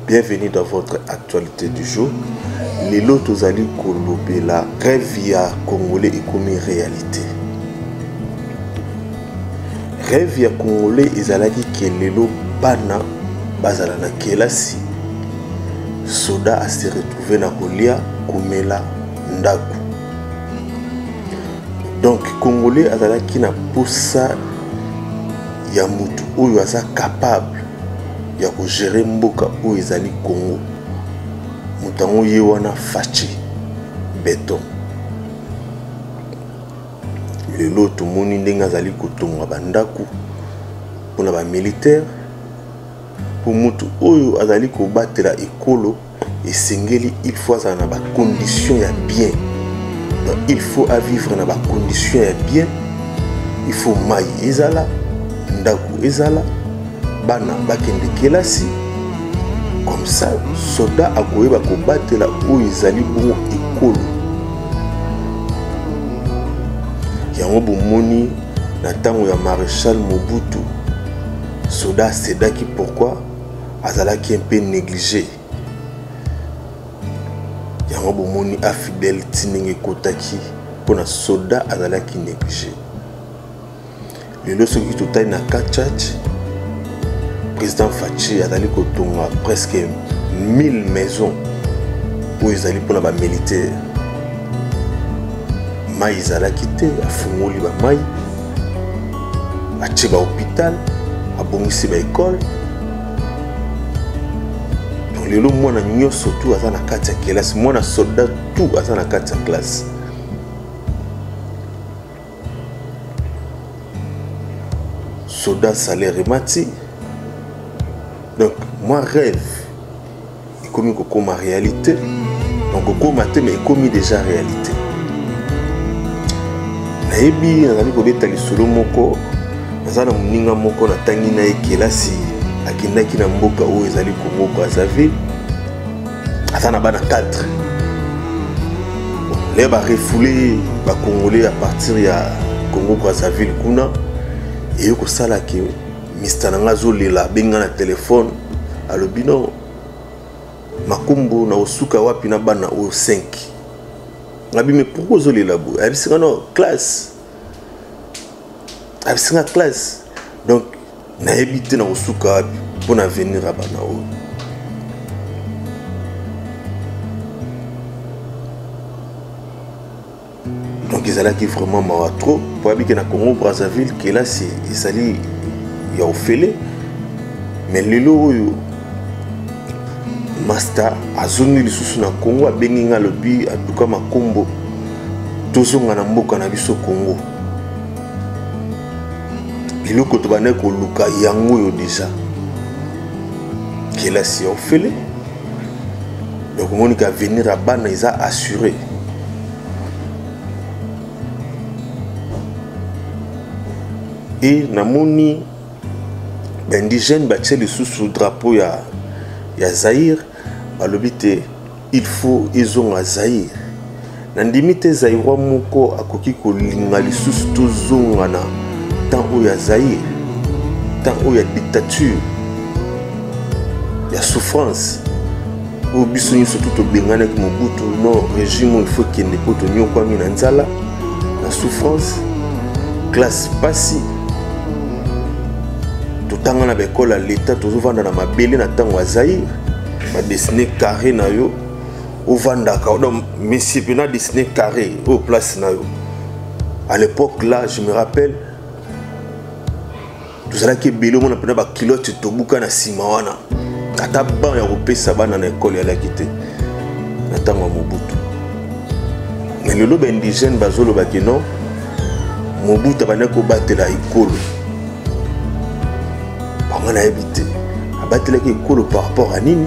Bienvenue dans votre actualité du jour. Lelo tozali kolobela rêve ya congolais ekomi réalité. Rêve ya congolais ezalaki ke lelo bana bazala na kelasi soda ase retrouve na kolia komela ndako donc congolais azalaki na posa ya motu oyo aza capable ya kogere mboka oyo ezali congo moto yango ye wana faci beton lelo tomoni ndenge azali kotonga bandako mpona bamilitaire mpo motu oyo azali kobatela ekolo esengeli il faut azala na ba condition ya bien donc il faut avivre na ba condition ya bien il faut mai ezala ndako ezala bana bakende kelasi comme ça soda akoyeba kobatela oyo ezali bongo ekolo yango bomoni na ntango ya maréchal mobutu soda asedaki pourquoi azalaki un peu neglige yango bomoni afidèle ti ndenge ekotaki mpo na soda azalaki neglige lelo soki totali na kachach président faci azali kotonga presque 1000 maison oyo ezali mpona bamilitaire mai ezalaki te afungoli bamai atie bahopital abongisi baekole donc lelo mwana nyonso tu aza na kati ya kelasi mwana soldat tu aza na kati ya klase soldat salaire emati donc moi rêve ekomi kokoma réalité donc kokoma te mais ekomi déjà réalité nayebi nazali kobeta lisolo moko naza na moninga moko natangi na ye kelasi akendaki na mboka oyo ezali congo brazzaville aza na bana 4 leye barefoule bacongolais à partir ya congo brazzaville kuna eye kosala ke mista na ngai azolela abenga na telefone alobi no makombo na osuka wapi na bana oyo 5 ngabi me pourkui ozolela boye ayebisinga no classe ayebisinga classe donc nayebi te na kosuka wapi mpo na avenir ya bana oyo donc ezalaki vraiment mawa trop mpo yabi ke na congo brazzaville kelasi ezali ya ofele mais lelo oyo masta azongi lisusu na congo abengi ngai alobi atuka makombo tozonga na mboka na biso congo biloko tobandaki koluka yango oyo deja kelasi ya ofele donc omoni ke avenir ya bana eza assure e namoni baindigène batie lisusu drapeau ya, ya zaire balobi te il faut ezonga zaire Nandimi te Zaïrois moko akoki kolinga lisusu tozonga na temps oyo ya Zaïre, temps oyo ya dictature, ya souffrance oyo biso nyonso tu tobenganaki Mobutu no regime oyo faut ekende mpo tonyokwami na nzala na souffrance classe pasi totanga na baekole ya leta tozovanda na mabele na ntango ya zaire badesine carré na yo ovandaka odo misipi na disney carré oyo place na yo à l'époque là je me rappelle tozalaki ebele omona mpena bakilote tobuka na nsima wana ata ban ya kopesa bana na ekole yalaki te na ntango ya mobutu me lelo baindigène bazoloba ke non mobutu abandaki kobatela ekolo bango nayebi te abatelaki ekolo par rapport ya nini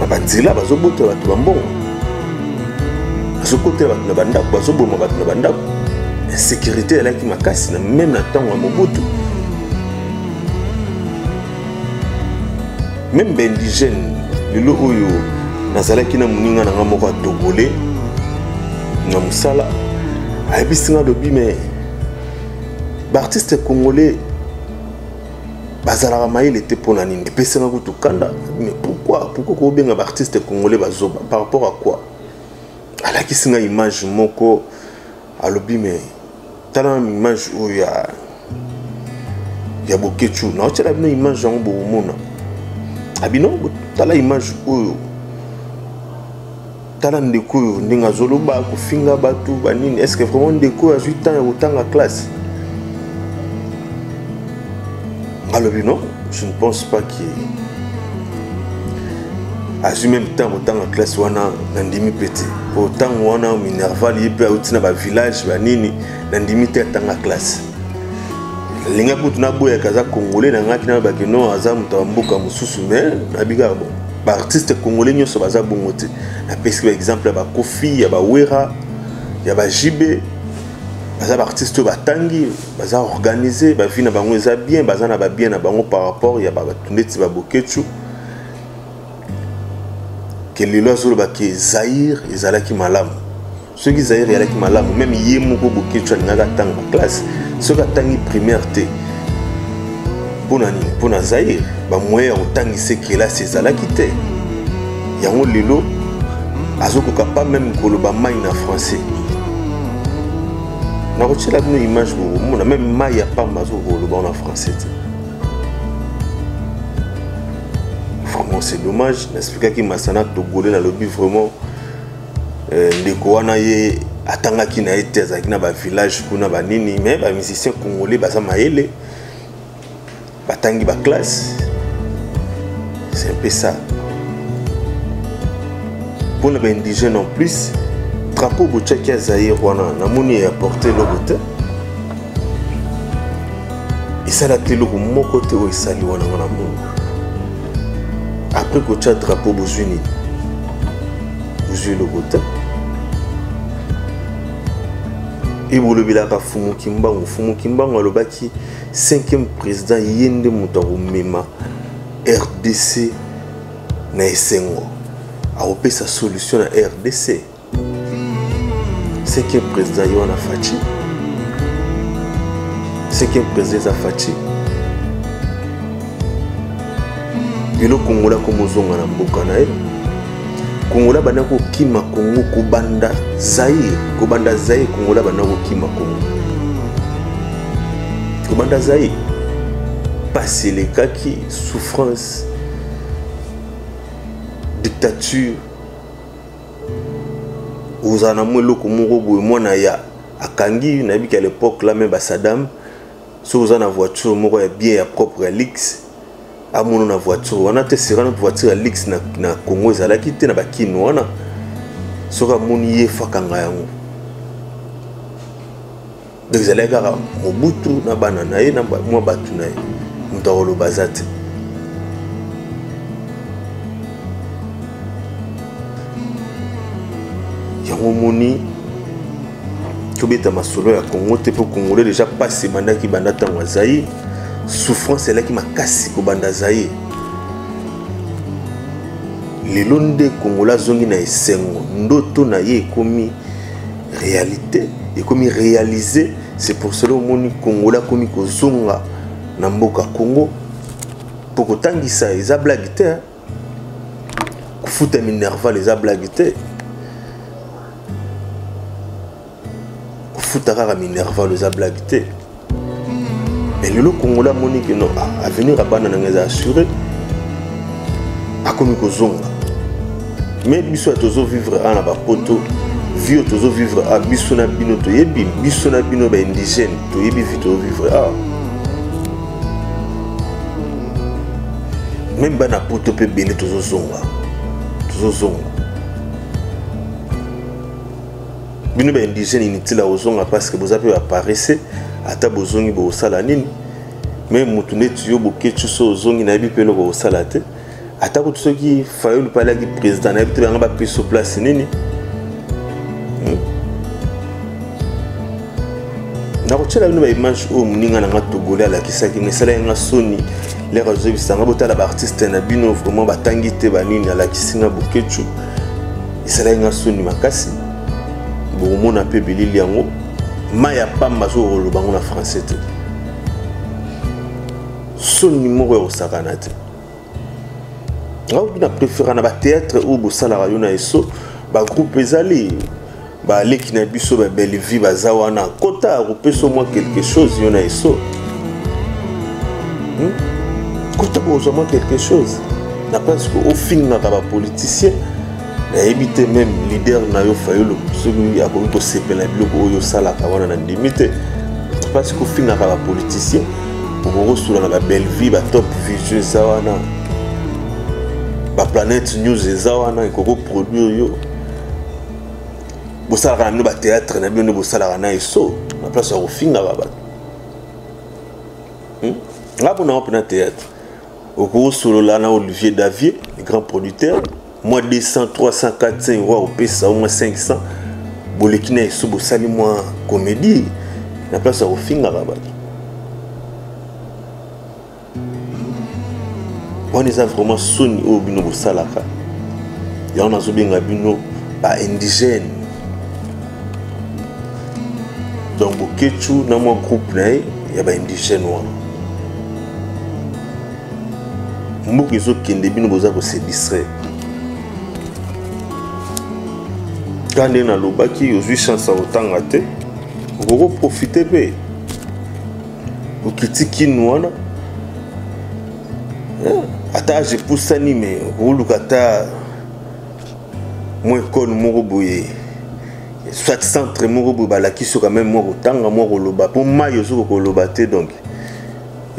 na banzela bazobotela bato bambongo bazokotela bato na bandako bazoboma bato na bandako insécurité elaki makasi na meme na ntango ya mobutu meme baindigène lelo oyo nazalaki na moninga na ngai moko atogole na mosala ayebisi ngai alobi me baartiste congolais bazalaka mayele te mpo na nini epesaka kutu kanda mais pourquoi pourquoi kobenga baartiste congolais bazoba par rapport à quoi alakisi nga image moko alobi me tala image oyo ya ya bokechu naotyela bino image yango bokomona abino tala image oyo tala ndeko oyo ndenge azoloba kofinga bato banini estce vraiment ndeko oyo azwi temps ya kotanga classe alobi non je ne pense pas que azwi meme temps kotanga classe wana nandimi mpe te mpo ntango wana minerval ye mpe auti na bavillage banini nandimi te atanga classe alingaki kutu naboyaka aza congolais nangaki nayebaki non aza moto ya mboka mosusu mais nayebi kaka bon baartiste congolais nyonso baza bongo te napesi baexemple ya bakofi ya bawera ya bajibe baza baartiste oyo batangi baza organise bavi na bango eza bien baza na babien na bango par rapport ya bato ndeti babokecu ke lelo azoloba ke zaire ezalaki malamu soki zaire eyalaki malamu meme ye moko boketshu alingaka atanga classe soki atangi primaire te mpo na nini mpo na zaire bamoyen ya kotangisa kelasi ezalaki te yango lelo azokoka pa meme koloba mai na français nakotyela bino image bokomona meme mai ya pamba azokoloba wana français te vraiment c'est dommage naexplikaki masana togole nalobi vraiment Euh, ndeko wana ye atangaki na ye te azalaki na bavillage kuna banini mais bamusicien congolais baza mayele batangi baklasse c'est un peu ça mpo na baindigène en plus drapeau botyaki ya zaire wana namoni eaporte eloko te esalaki eloko moko te oyo esali wana wana mongo après kotya drapeau bozwi nini ozwi lokuta ebolobelaka fumu kimbangu fumu kimbangu alobaki 5e président ye nde moto akomema rdc na esengo akopesa solution na rdc 5e président ye wana faci 5e président eza faci lelo kongola komozonga na mboka na ye kongola banda kokima kongo kobanda zaire kobanda zaire kongola banda kokima kongo kobanda zaire mpasi elekaki souffrance dictature ozala na mwa eloko moko boye mwana ya akangi nayebiki ya lepoque la me basadame soki oza na voiture moko ya bien ya propre ya lixe amono na voiture wana te serano voiture ya lix na, na congo ezalaki te na bakino wana soki amoni ye fakanga yango donc ezalaki kaka mobutu na bana na ye na mwa bato na ye moto akoloba aza te yango omoni tobeta masolo ya congo te mpo congolais deja mpasi ebandaki banda ntango ya zaire souffrance elaki makasi kobanda zaire lelo nde kongola azongi na esengo ndoto na ye ekomi réalité ekomi réalise c'est pour cela omoni kongola akomi kozonga na mboka congo mpo kotangisa eza blage te kofuta minerval eza blague te kofuta kaka minerval eza blague te mais lelo kongola amoni ke non ah, avenir ya bana nanga eza assuré akomi kozonga mais biso ya tozovivre a na bapoto vie oyo tozovivre a biso na bino toyebi biso na bino baindigène toyebi vie tozovivre awa meme bana poto mpe ebele tozozonga tozozonga bino ba indigène inutile akozonga parce que boza mpe baparese ata bozongi bokosala nini me motu neti yo bokeci so ozongi nayebi mpe eloko kosala te ata kutu soki fayulu mpe alaki président nayebi te banga bapesi so place nini hmm. nakotyela bino baimage oyo moninga na nga togole alakisaki nga esalaki nga soni lere azobisa nga botala baartiste na bino vraiment batangi te banini alakisi nga bokecu esalaki nga soni makasi bokomona mpe bilili yango mai ya pamba azokoloba yango na français te soni moko ya kosakana te auti na préféra na batéâtre oyo bosalaka yo na eso bagroupe ezali baleki na biso ba bellevie baza wana kota akopesa mwa quelque chose yo na eso hmm? kota kozwa mwa quelque chose na place ofingaka bapoliticien nayebi te meme leader na yo fayulu soki akoki kosepela biloko oyo osalaka wana na ndimi te mpasi kofingaka bapoliticien okoki kosula na babellevie batop vision eza wana baplanète news eza wana ekoki koproduire yo bosalaka na bino bateatre na bino nde bosalaka na eso na place ya kofingaka bato hmm? nga mpo nango mpena teatre okosolola na olivier davier grand producteur mwa 200 300 400 euro akopesa yo mwa 500 boleki na yesu bosali mwa komedi na place ya kofingaka bato wana eza vraiment soni oyo bino bosalaka yango nazobenga bino baindigène donc bokecu na mwa groupe na ye ya baindigène wana mboka ezokende bino boza kose distraire ka nde nalobaki ozwi chance ya kotanga te okoki koprofite mpe okiti kinu wana eh, ata age epusani me okoluka ata mwa ekole moko boye soit centre moko boye balakisi oka meme mwa kotanga mwa koloba mpo mai ozokoka koloba te donc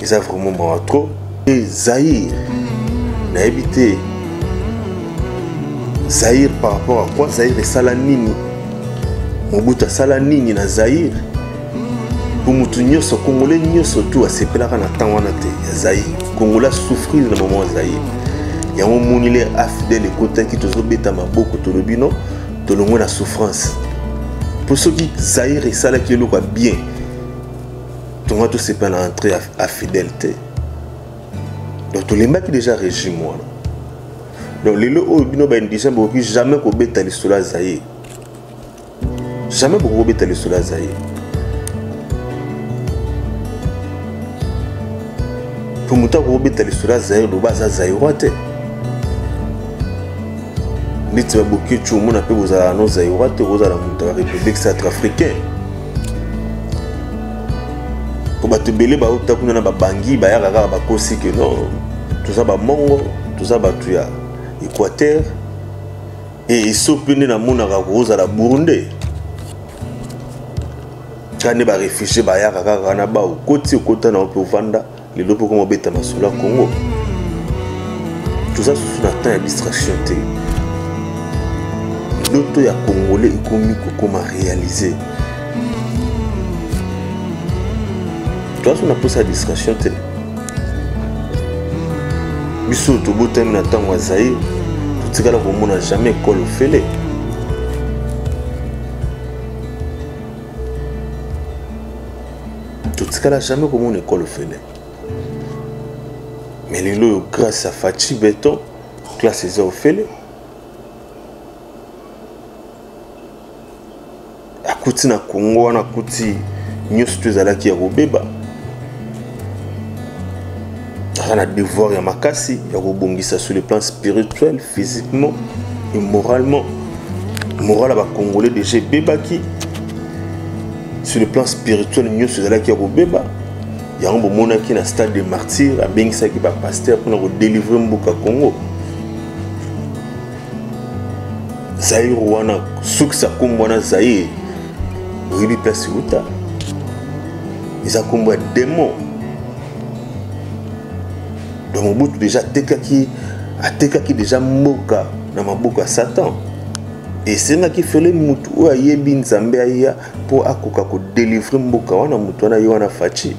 eza vraiment mawa trop e zaire nayebi te zaire par rapport à quoi zaire esala nini mobutu asala nini na zaire po motu nyonso congolais nyonso tu asepelaka na ntango wana te ya zai congolais asouffrir na mama ya zai yango omoni le afidele ekotaki tozobeta maboko tolobi no tolongwe na souffrance mpo soki zaire esalaki eloko ya bien tonga tosepa na entré ya fidèle te donc tolembaki déjà régime wana donc lelo oyo bino baindigent bokoki jamais kobeta lisolo ya zaire jamais bokoki kobeta lisolo ya zaire mpo moto akoki kobeta lisolo ya zaire loba aza zairoi te neti babokeci omona mpe bozalaka no zairoi te okozala moto ya république centrafricain mpo bato ebele bauta kuna na babangi bayaka kaka bakosi ke no toza bamongo toza bato ya équateur e esopi nde namonaka kozala burundais kaka nde barefugie bayaka kaka wana bao koti okota na yo mpe ovanda lelo mpe okoma obeta masolo ya congo toza susu na temps ya distraction te ndoto ya congolais ekomi kokoma réalise toza susu na mposa ya distraction te biso tobotami na ntango ya zaire totikala komona jamais ekolo ofele totikala jamais komona ekolo ofele mais lelo oyo grâce ya faci beton classe eza ofele akuti na congo wana akuti nyonso to ezalaki ya kobeba aza na devoir ya makasi ya kobongisa sur le plan spirituel physiquement et moralement moral ya bacongolais déjà ebebaki sur le plan spirituel nyonso ezalaki ya kobeba yango bomonaki na stade de martyr abengisaki bapaster mpona kodelivre mboka congo zaire wana sukisa nkombo wana zaire oyebi place euta eza nkombo ya demon donc mobutu deja atekaki atekaki deja mboka na maboko ya satan esengaki fele motu oyo ayebi nzambe aya mpo akoka kodelivre mboka wana motu wana ye wana faci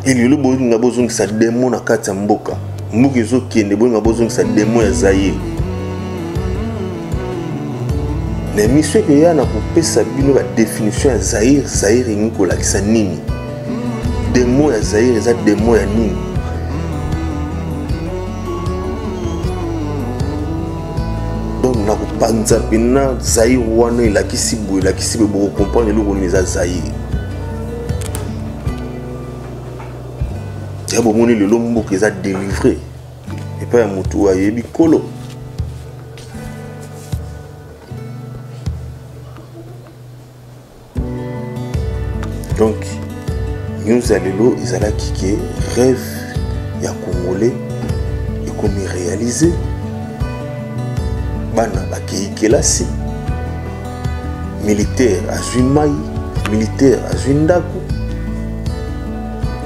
elelo bolinga bozongisa demo na kati ya mboka mboka ezokende bolinga bozongisa demo ya zaire na emisio ekoya na kopesa bino badefinition ya zaire zaire elingi kolakisa nini demo ya zaire eza demo ya nini donc nakopanza mpena zaire wana elakisi boye elakisi boye bokokomprendre eloko nini eza zaire ya bomoni lelo mboka eza delivre epai ya motu oyo ayebi kolo donc news ya lelo ezalaki ke rêve ya congolais ekomi réalise bana bakei kelasi militaire azwi mai militaire azwi ndako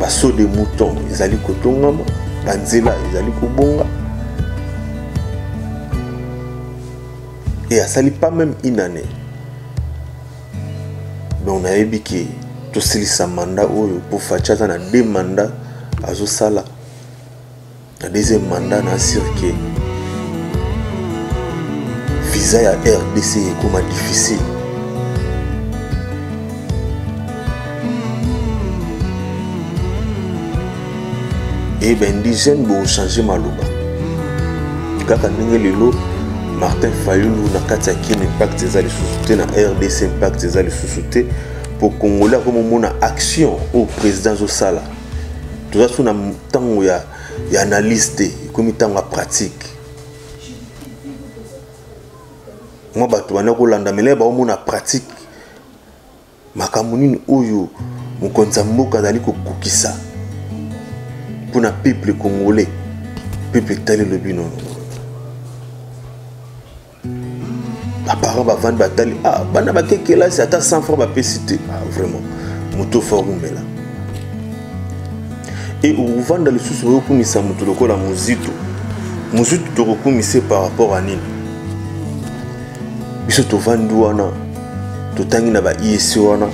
baso de mouton ezali kotongama banzela ezali kobonga et asali pas même une année donc nayebi ke tosilisa manda oyo mpo faci aza na deux manda azosala na deuxième manda na asire ke visa ya rdc ekoma difficile e eh baindigène bochange maloba kaka ndenge lelo martin fayulu na kati ya kin impact eza lisusu te na rdc impact eza lisusu te mpo congolais akomomona action oyo président azosala toza so na ntango ya, ya analyse te ekomi ntango ya pratique mwa bato banda kolandamela ye baomona pratique makambo nini oyo mokonzi ya mboka azali kokokisa mpo na peuple congolais peuple etali elobi nono baparent bavandi batali ah, bana bake kelasi ata 100 franc bapesi te ah, vraiment moto fo akumela e okovanda lisusu oyokumisa moto lokola mozitu mozitu tokokumisa par rapport a nini biso tovandi wana totangi na ba iec wana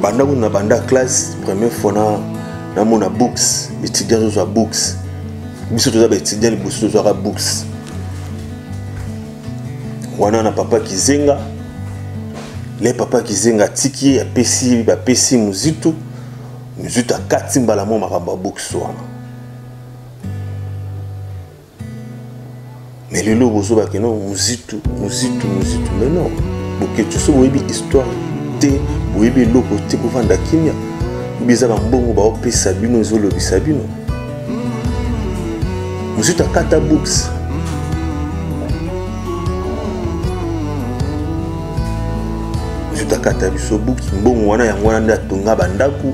banda kuna na banda classe première fois na namona books étudiant azozwa books biso toza baétudiant liboso tozwaka books wana na papa kizenga le papa kizenga atiki ye apesi bapesi mozitu mozitu akati mbala mwa makambo ya books wana mais lelo bozoba keno muzitu muzitu muzitu mais non boketsu so boyebi histoire te boyebi eloko te bovanda kimia obi eza bambongo baopesa bino ezolobisa bino muzitu akata books muzitu akata biso buki mbongo wana yango wana nde atonga bandako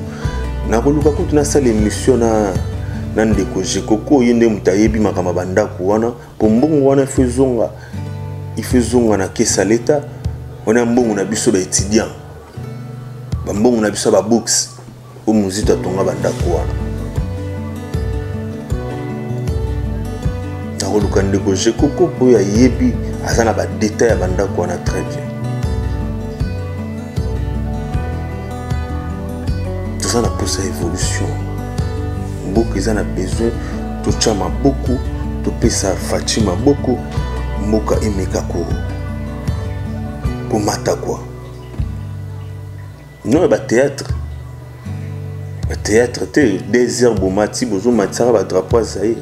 nakoluka kutu nasala émission na na ndeko jekoko ye nde moto ayebi makambo ya bandako wana mpo mbongo wana ifo ezonga ifo ezonga na kesa leta wana ya mbongo na biso baétudiant bambongo na biso ya babooks oyo mozito atonga bandako wana nakoluka ndeko jekoko mpo oyo ayebi aza na badetail ya bandako wana très bien toza na mposa évolution mboka eza na besoin totya maboko topesa faci maboko mboka emeka komata kwa noyo batéâtre batéâtre te deux heures bomati bozomatisaka badrapo ya zaire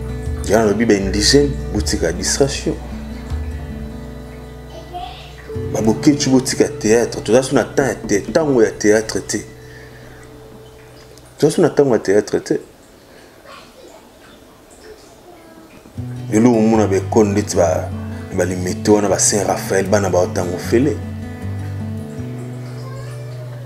ya nalobi ba indigène botika distraction babokeci botika théâtre toza so na temps ya te ntango ya théâtre te toza so na ntango ya théâtre te lelo omona baekole ndeti balimete wana ba saint raphael bana baotango fele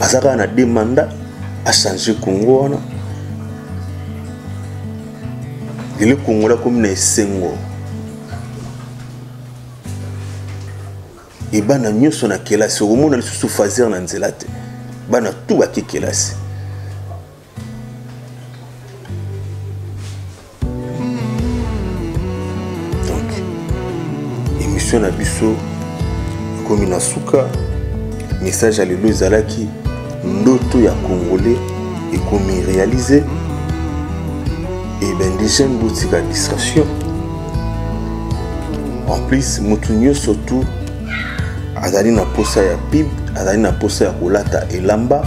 aza kaka na deux mandat achange congo wana lelo kongola akomi na esengo ebana nyonso na kelasi okomona lisusu fazer na nzela te bana tu bake kelasi émission na biso ekomi na suka message ya lelo ezalaki ndoto ya congolais ekomi réalise eben dejane botika distraction en plus moto nyonso tu azali na mposa ya pib azali na mposa ya kolata elamba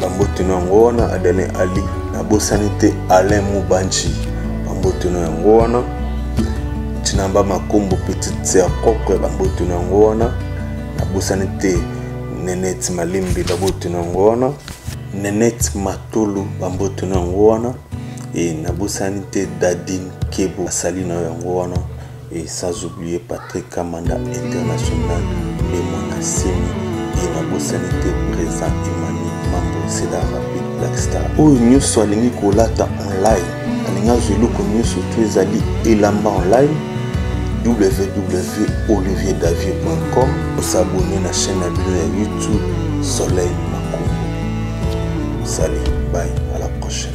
bambote no yango wana adalin ali nabosani te alain mubanji bambote no yango wana tinamba makombo petite sœur propre bambote no yango wana nabosani te nenete malimbi bambote no yango wana nenete matolo bambote no yango wana e nabosani te dadin kebo asali na yango wana Et sans oublier Patrick Kamanda International, le Monasemi, et la Bossanité présent Emmanuel Mambo, c'est la rapide Black Star. Oyo nyoso alingi kolata online, alingi azwa eloko nyoso to ezali elamba online www.olivierdavier.com osabone na chaîne na bino ya YouTube Soleil Makumbu. Salut, bye, à la prochaine.